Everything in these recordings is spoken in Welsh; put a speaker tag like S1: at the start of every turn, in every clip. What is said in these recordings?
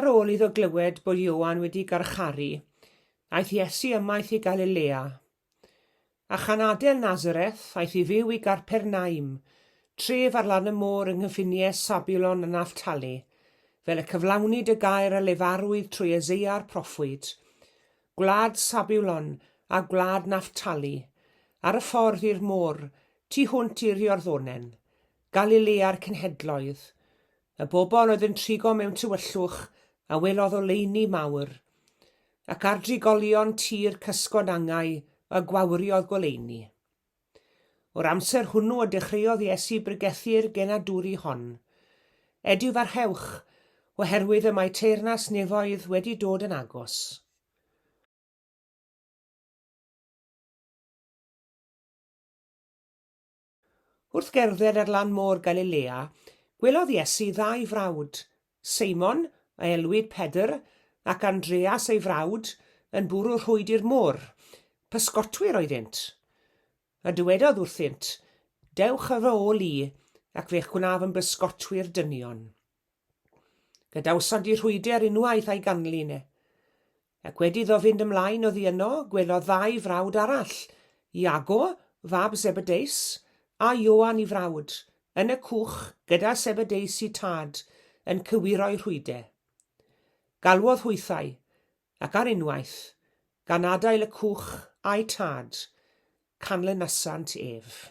S1: Ar ôl iddo glywed bod Ioan wedi garcharu, aeth Iesu ymaith i Galilea. A chan adael Nazareth, aeth i fyw i Garpernaum, tref ar lan y môr yng nghyffiniau Sabulon a Naftali, fel y cyflawnid y gair a lefarwyd trwy Eseia'r proffwyd, Gwlad Sabulon a gwlad Naftali, ar y ffordd i'r môr, tu hwnt i'r Iorddonen, Galilea'r cenhedloedd. Y bobl oedd yn trigo mewn tywyllwch a welodd oleuni mawr. Ac ar drigolion tir cysgod angau y gwawriodd goleuni. O'r amser hwnnw y dechreuodd Iesu bregethu'r genadwri hon, Edifarchewch, oherwydd y mae teyrnas nefoedd wedi dod yn agos. Wrth gerdded ar lan môr Galilea, gwelodd Iesu ddau frawd, Seimon, a elwid Pedr, ac Andreas ei frawd, yn bwrw rhwyd i'r môr. Pysgotwyr oeddynt. A dywedodd wrthynt, Dewch â fy ôl i, ac fe'ch gwnaf yn bysgotwyr dynion. Gadawsant y rhwydr unwaith a'i ganlyn e. Ac wedi iddo fynd ymlaen oddi yno, gwelodd ddau frawd arall, Iago, fab Zebedeus, a Ioan 'i frawd, yn y cwch gyda Zebedeus 'i tad, yn cywiro'i rhwydr. Galwodd hwythau, ac ar unwaith, gan adael y cwch a'u tad, canlynasant ef.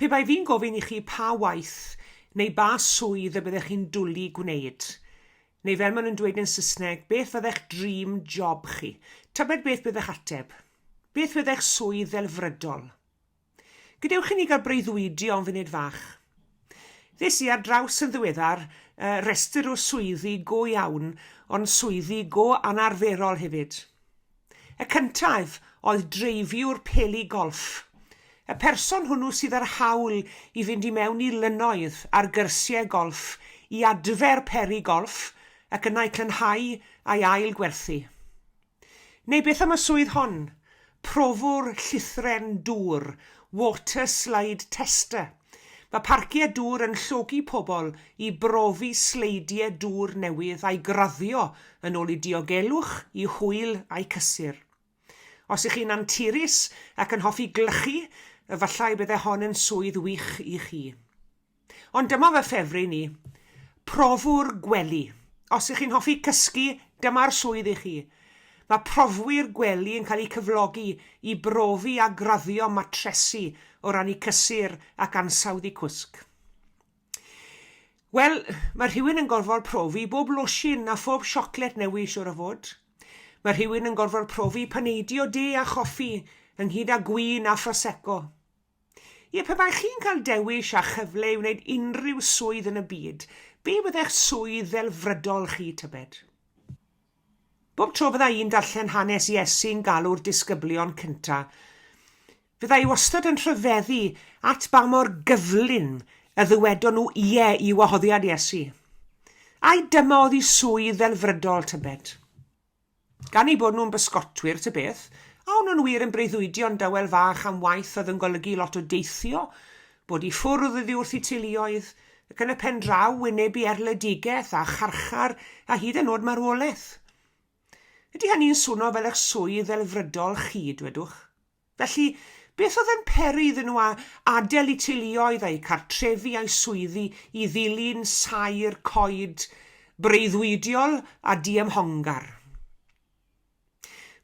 S1: Pe bai fi'n gofyn i chi pa waith neu ba swydd y byddech chi'n dwli gwneud, neu fel maen nhw'n dweud yn Saesneg, beth fyddech dream job chi, tybed beth byddech ateb? Beth fyddech swydd ddelfrydol? Gadewch i ni gael breuddwydio am funed fach. Ddes i ar draws yn ddiweddar uh, restr o swyddi go iawn, ond swyddi go anarferol hefyd. Y cyntaf oedd dreifiwr peli golff. Y person hwnnw sydd â'r hawl i fynd i mewn i lynnoedd ar gyrsiau golff i adfer peri golff ac yna eu clynhau a'i ail gwerthu. Neu beth am y swydd hon? Profwr llithren dŵr, water slide tester. Mae parciau dŵr yn llogi pobl i brofi sleidiau dŵr newydd a'i graddio yn ôl i diogelwch, i hwyl a'i cysur. Os ych chi'n anturus ac yn hoffi glychu, efallai y byddai hon yn swydd wych i chi. Ond dyma fy ffefryn i. Profwr gwely. Os ych chi'n hoffi cysgu, dyma'r swydd i chi. Mae profwyr gwely yn cael eu cyflogi i brofi a graddio matresi o ran eu cysur ac ansawdd eu cwsg. Wel, mae rhywun yn gorfod profi bob losin a phob siocled newydd siwr o fod. Mae rhywun yn gorfod profi paneidio de a choffi ynghyd â gwin a phrosecco. Ie, pe baech chi'n cael dewis a chyfle i wneud unrhyw swydd yn y byd, be fyddech swydd ddelfrydol chi, tybed? Bob tro fydda i'n darllen hanes Iesu'n galw'r disgyblion cynta, fydda i wastad yn rhyfeddu at ba mor gyflym y ddywedon nhw ie i wahoddiad Iesu. Ai dyma oedd i swydd ddelfrydol, tybed? Gan eu bod nhw'n bysgotwyr ta beth, a o'n nhw'n wir yn breuddwydion dawel fach am waith oedd yn golygu lot o deithio, bod i ffwrdd oddi wrth eu teuluoedd, ac yn y pen draw wynebu erledigaeth a charchar a hyd yn o'd marwolaeth. Ydy hynny'n swno fel eich swydd ddelfrydol chi, dwedwch? Felly, beth oedd yn peri iddyn nhw adael eu teuluoedd a'u cartrefi a'u swyddi i ddilyn saer coed breuddwydiol a diymhongar?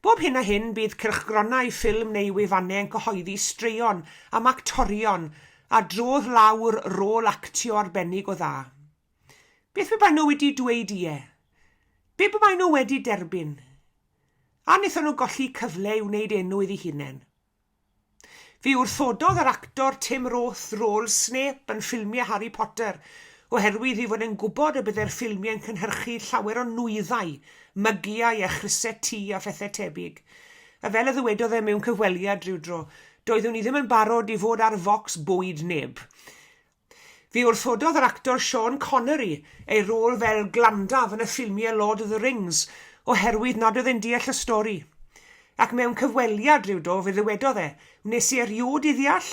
S1: Bob hyn a hyn, bydd cylchgronau ffilm neu wefannau yn cyhoeddi straeon am actorion a drodd lawr rôl actio arbennig o dda. Beth pe baen nhw wedi dweud ie? Be pe baen nhw wedi derbyn? A wnaethon nhw golli cyfle i wneud enw iddi hunain. Fe wrthododd yr actor Tim Roth rôl Snape yn ffilmiau Harry Potter oherwydd ei fod e'n gwybod y byddai'r ffilmiau'n cynhyrchu llawer o nwyddau, mygiau a chrysau tŷ a phethau tebyg. A fel y ddywedodd e mewn cyfweliad rywdro, doeddwn i ddim yn barod i fod ar focs bwyd neb. Fe wrthododd yr actor Sean Connery ei rôl fel Glandalf yn y ffilmiau Lord of the Rings oherwydd nad oedd e'n deall y stori. Ac mewn cyfweliad rywdro, fe ddywedodd e, Wnes i erioed ei ddeall.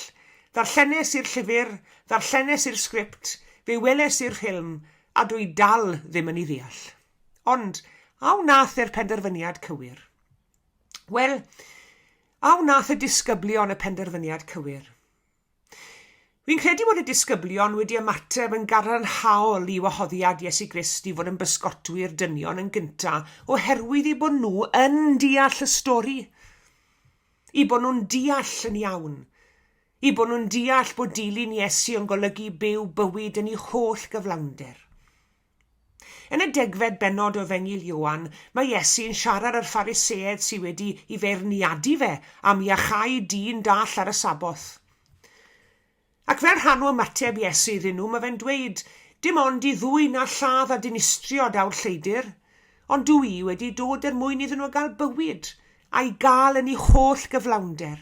S1: Ddarllenes i'r llyfr, ddarllenes i'r sgript, fe weles i'r ffilm, a dw i dal ddim yn ei ddeall. Ond, a wnaeth e'r penderfyniad cywir? Wel, a wnaeth y disgyblion y penderfyniad cywir? Fi'n credu bod y disgyblion wedi ymateb yn gadarnhaol i wahoddiad Iesu Grist i fod yn bysgotwyr dynion yn gynta, oherwydd i bod nhw yn deall y stori, i bod nhw'n deall yn iawn, i bod nhw'n deall bod dilyn Iesu yn golygu byw bywyd yn ei holl gyflawnder. Yn y degfed bennod o Efengyl Ioan, mae Iesu yn siarad â'r Phariseaid sydd wedi i feirniadu fe am iachau dyn dall ar y Sabboth. Ac fel rhan o ymateb Iesu iddyn nhw, mae fe'n dweud, Dim ond i ddwyn a lladd a dinistrio daw'r lleidr, ond dw i wedi dod er mwyn iddyn nhw gael bywyd, a'i gael yn ei holl gyflawnder.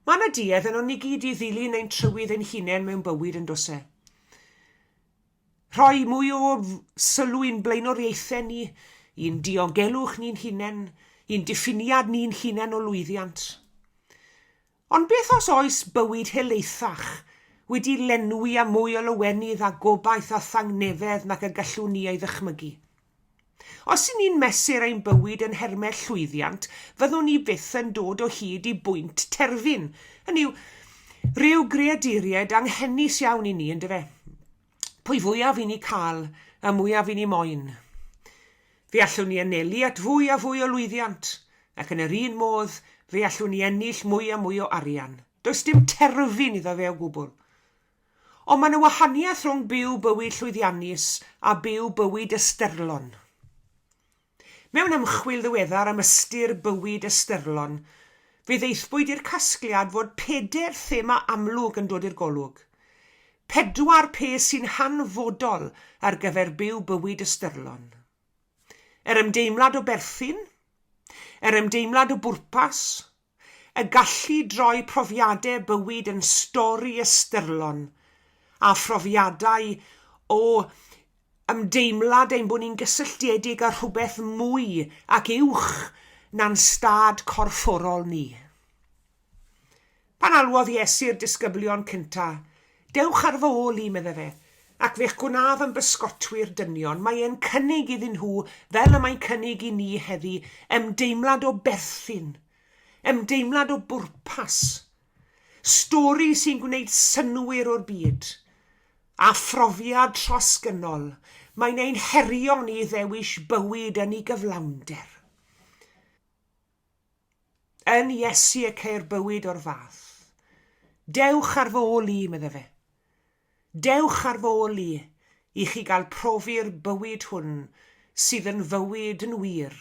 S1: Mae yna duedd yno ni gyd i ddilyn ein trywydd ein hunain mewn bywyd, yn does e? Rhoi mwy o sylw i'n blaenoriaethau ni, i'n diogelwch ni'n hunain, i'n diffiniad ni'n hunain o lwyddiant. Ond beth os oes bywyd helaethach wedi lenwi â mwy o lawenydd a gobaith a thangnefedd nac y gallwn ni ei ddychmygu? Os y'n ni'n mesur ein bywyd yn nhermau llwyddiant, fyddwn ni byth yn dod o hyd i bwynt terfyn. Hynny yw, rhyw greaduriaid anghenus iawn i ni, yndyfe? Pwy fwyaf i ni cael, y mwyaf i ni moyn. Fe allwn ni anelu at fwy a fwy o lwyddiant, ac yn yr un modd, fe allwn ni ennill mwy a mwy o arian. Does dim terfyn iddo fe o gwbl. Ond mae 'na wahaniaeth rhwng byw bywyd llwyddiannus a byw bywyd ystyrlon. Mewn ymchwil ddiweddar am ystyr bywyd ystyrlon, fe ddaethpwyd i'r casgliad fod pedair thema amlwg yn dod i'r golwg. Pedwar peth sy'n hanfodol ar gyfer byw bywyd ystyrlon. Yr ymdeimlad o berthyn, yr ymdeimlad o bwrpas, y gallu droi profiadau bywyd yn stori ystyrlon, a phrofiadau o ymdeimlad ein bod ni'n gysylltiedig â rhywbeth mwy ac uwch na'n stad corfforol ni. Pan alwodd Iesu'r disgyblion cyntaf Dewch ar fy ôl i, meddai fe, ac fe'ch gwnaf yn bysgotwyr dynion. Mae e'n cynnig iddyn nhw, fel y mae'n cynnig i ni heddi, ymdeimlad o berthyn, ymdeimlad o bwrpas, stori sy'n gwneud synnwyr o'r byd, a phrofiad trosgynnol. Mae'n ein herio ni i ddewis bywyd yn ei gyflawnder. Yn Iesu y ceir bywyd o'r fath. Dewch ar fy ôl i, medda fe. Dewch ar fy ôl i, i chi gael profi'r bywyd hwn sydd yn fywyd yn wir,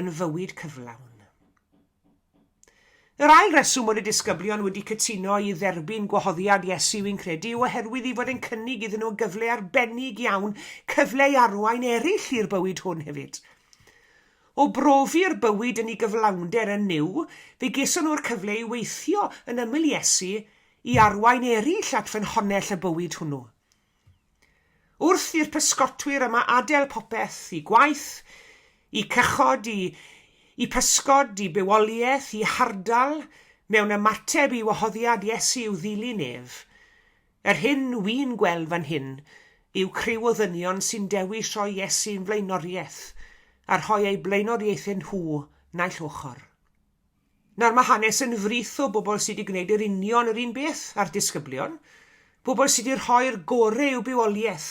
S1: yn fywyd cyflawn. Yr ail reswm bod y disgyblion wedi cytuno i dderbyn gwahoddiad Iesu i'n credu yw oherwydd ei fod e'n cynnig iddyn nhw gyfle arbennig iawn, cyfle i arwain eraill i'r bywyd hwn hefyd. O brofi'r bywyd yn ei gyflawnder yn Nuw, fe geson nhw'r cyfle i weithio yn ymyl Iesu i arwain eraill at ffynhonnell y bywyd hwnnw. Wrth i'r pysgotwyr yma adael popeth, i gwaith, i cychod, i i pysgod, i bywoliaeth, i hardal, mewn ymateb i wahoddiad Iesu i'w ddilyn ef, Yr hyn wi'n gweld fan hyn yw criw o ddynion sy'n dewis rhoi Iesu'n flaenoriaeth a rhoi eu blaenoriaethau nhw naill ochr. Nawr, mae hanes yn frith o bobl sy' 'di gwneud yr union yr un beth â'r disgyblion, pobl sy' 'di rhoi'r gore i'w bywoliaeth,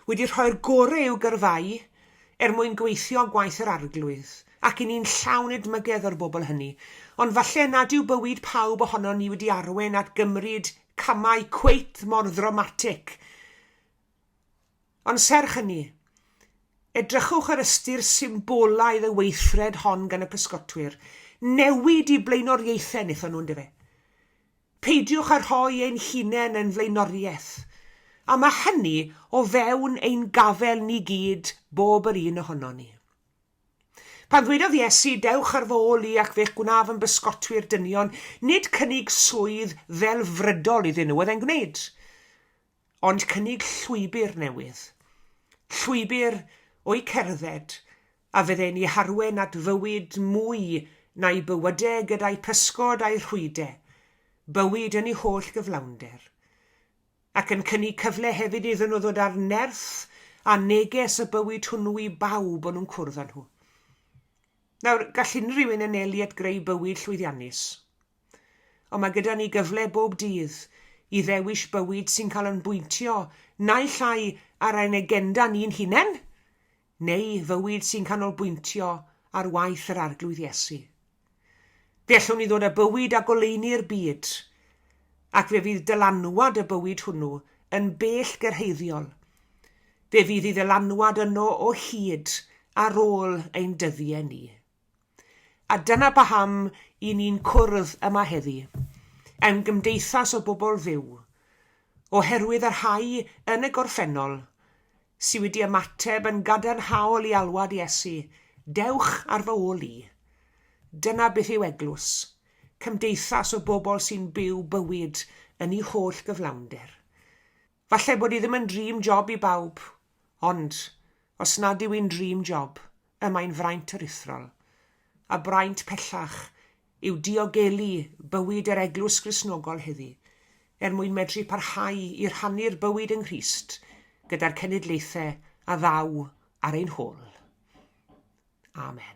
S1: wedi rhoi'r gore i'w gyrfau er mwyn gweithio gwaith yr Arglwydd, ac 'yn ni'n llawn edmygedd o'r bobl hynny. Ond falle nad yw bywyd pawb ohonon ni wedi arwain at gymryd camau cweit mor ddramatig. Ond serch hynny, edrychwch ar ystyr symbolaidd y weithred hon gan y pysgotwyr. Newid i blaenoriaethau wnaethon nhw, yndyfe? Peidiwch â rhoi ein hunain yn flaenoriaeth. A mae hynny o fewn ein gafael ni gyd, bob yr un ohonon ni. Pan ddwedodd Iesu, Dewch ar fy ôl i ac fe'ch gwnaf yn bysgotwyr dynion, nid cynnig swydd ddelfrydol iddyn nhw oedd e'n gwneud, ond cynnig llwybr newydd. Llwybr o'i cerdded, a fydde'n i harwen at fywyd mwy na'i bywyde gyda'i physgod a'i rhwyde, bywyd yn ei holl gyflawnder. ac yn cynnig cyfle hefyd iddyn nhw ddod â'r nerth a neges y bywyd hwnnw i bawb o'n nhw'n cwrdd â nhw. Nawr, gall unrhyw un anelu at greu bywyd llwyddiannus. Ond mae gyda ni gyfle bob dydd i ddewis bywyd sy'n cael ein bwyntio naill ai ar ein agenda ni'n hunain, neu fywyd sy'n canolbwyntio ar waith yr Arglwydd Iesu. Fe allwn ni ddod â bywyd a goleuni i'r byd, ac fe fydd dylanwad y bywyd hwnnw yn bell gyrhaeddiol. Fe fydd ei ddylanwad yno o hyd ar ôl ein dyddiau ni. A dyna paham i ni'n cwrdd yma heddi, yn gymdeithas o bobl fyw, oherwydd y rhai yn y gorffennol sy wedi ymateb yn gadarnhaol i alwad Iesu, Dewch ar fy ôl i. Dyna beth yw eglwys, cymdeithas o bobl sy'n byw bywyd yn ei holl gyflawnder. Falle bod hi ddim yn dream job i bawb, ond, os nad yw'n dream job, y mae'n fraint aruthrol, a braint pellach yw diogelu bywyd yr Eglwys Gristnogol heddi, er mwyn medru parhau i rhannu'r bywyd yng Nghrist gyda'r cenedlaethau a ddaw ar ein hôl. Amen.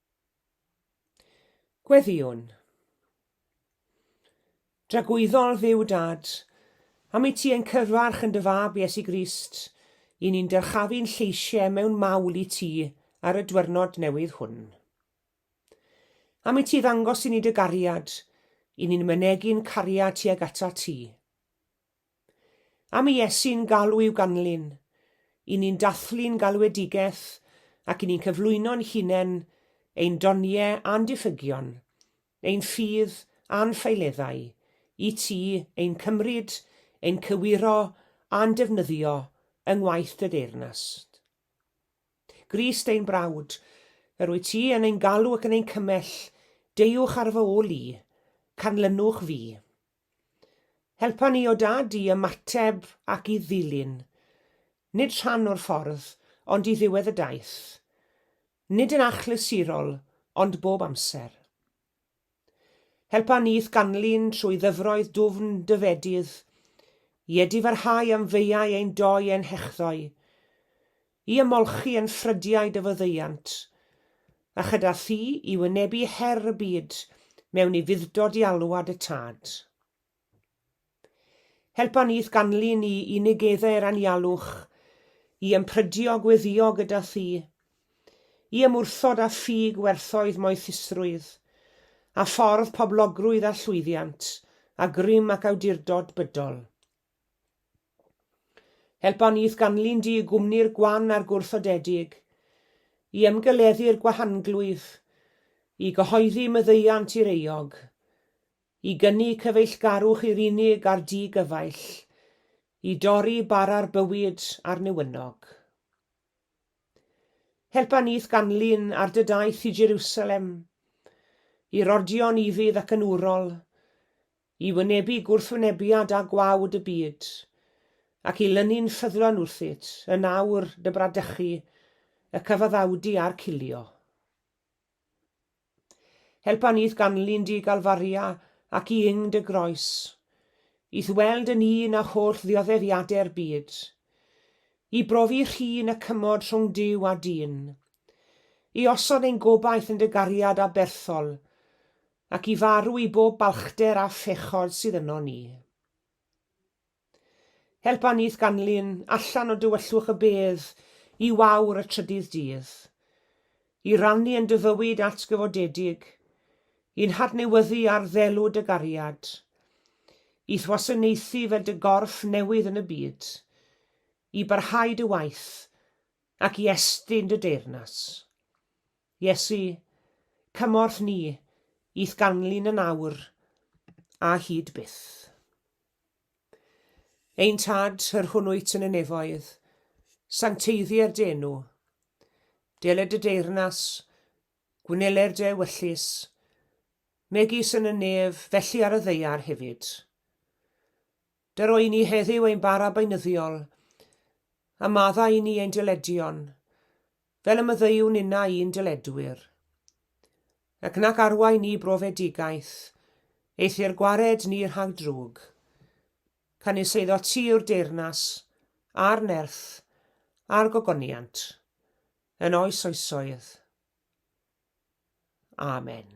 S1: Gweddïwn. Dragwyddol Dduw Dad, am i ti ein cyfarch yn dy fab Iesu Grist, i ni'n dyrchafu'n lleisiau mewn mawl i ti ar y dwyrnod newydd hwn. Am i ti ddangos i ni dy gariad, i ni'n mynegi'n cariad tuag ata ti. Am i Iesu'n galw i'w ganlyn, i ni'n dathlu'n galwedigaeth ac i ni'n cyflwyno'n hunain, ein doniau a'n diffygion, ein ffydd a'n ffeileddau, i Ti, ein cymryd, ein cywiro a'n defnyddio yng ngwaith Dy deyrnas. Grist ein brawd, yr wyt Ti yn ein galw ac yn ein cymell, deuwch ar fy ôl i, canlynwch fi. Helpa ni, o Dad, i ymateb ac i ddilyn, nid rhan o'r ffordd, ond i ddiwedd y daith, nid yn achlysurol, ond bob amser. Helpa ni i'th ganlyn trwy ddyfroedd dwfn dy fedydd, i edifarhau am feiau ein doi ein hechddoe, i ymolchi yn ffrydiau dy faddeuant, a chyda thi i wynebu her y byd mewn i fudddo di alwad y Tad. Helpa ni i'th ganlyn ni i negeddau'r anialwch, i ymprydio gweddio gyda thi, i ymwrthod â thi gwerthoedd moethusrwydd, a ffordd poblogrwydd a llwyddiant, a grym ac awdurdod bydol. Helpa ni ganlyn dy gwmni'r gwan a'r gwrthodedig, i ymgeleddu'r gwahanglwyf, i gyhoeddi myddeuant i'r euog, i gynnu cyfeillgarwch i'r unig a'r di-gyfaill, i dorri bara'r bywyd a'r newynog. Helpa ni ganlyn ar dy daith i Jerusalem, i'r ordion ufudd ac yn urol, I wynebu gwrthwynebiad â gwawd y byd, ac i lynu'n ffyddlon wrthyt, yn awr dy bradychu, y cyfaddawdu a'r cilio. Helpa ni i'th ganlyn di, Galfaria, ac i yng dy groes, i'th weld yn un â holl ddioddefiadau'r byd, i brofi rhin y cymod rhwng Duw a dyn, i osod ein gobaith yn dy gariad aberthol, Ac i farw i bob balchder a phechod sydd yno ni. Helpa ni i'th ganlyn allan o dywyllwch y bedd i wawr y trydydd dydd, i rannu yn dy fywyd atgyfodedig, i'n hadnewyddu ar ddelw dy gariad, i'th wasanaethu fel dy gorff newydd yn y byd, i barhau dy waith, ac i estyn dy deyrnas. Iesu, cymorth ni, i'th ganlyn yn awr, a hyd byth. Ein Tad, yr hwn wyt yn y nefoedd, sancteiddier d'enw. Deled y deyrnas, gwneler dy ewyllys, megis yn y nef, felly ar y ddeiar hefyd. Dy roi ni heddiw ein bara beinyddiol, a madda i ni ein diledion, fel y maddeuwn inna i'n dyledwyr, ac nac arwain ni brofedigaeth, eithr gwared ni rhag drwg, canys eiddo ti yw'r deyrnas, a'r nerth, a'r gogoniant, yn oes oesoedd. Amen.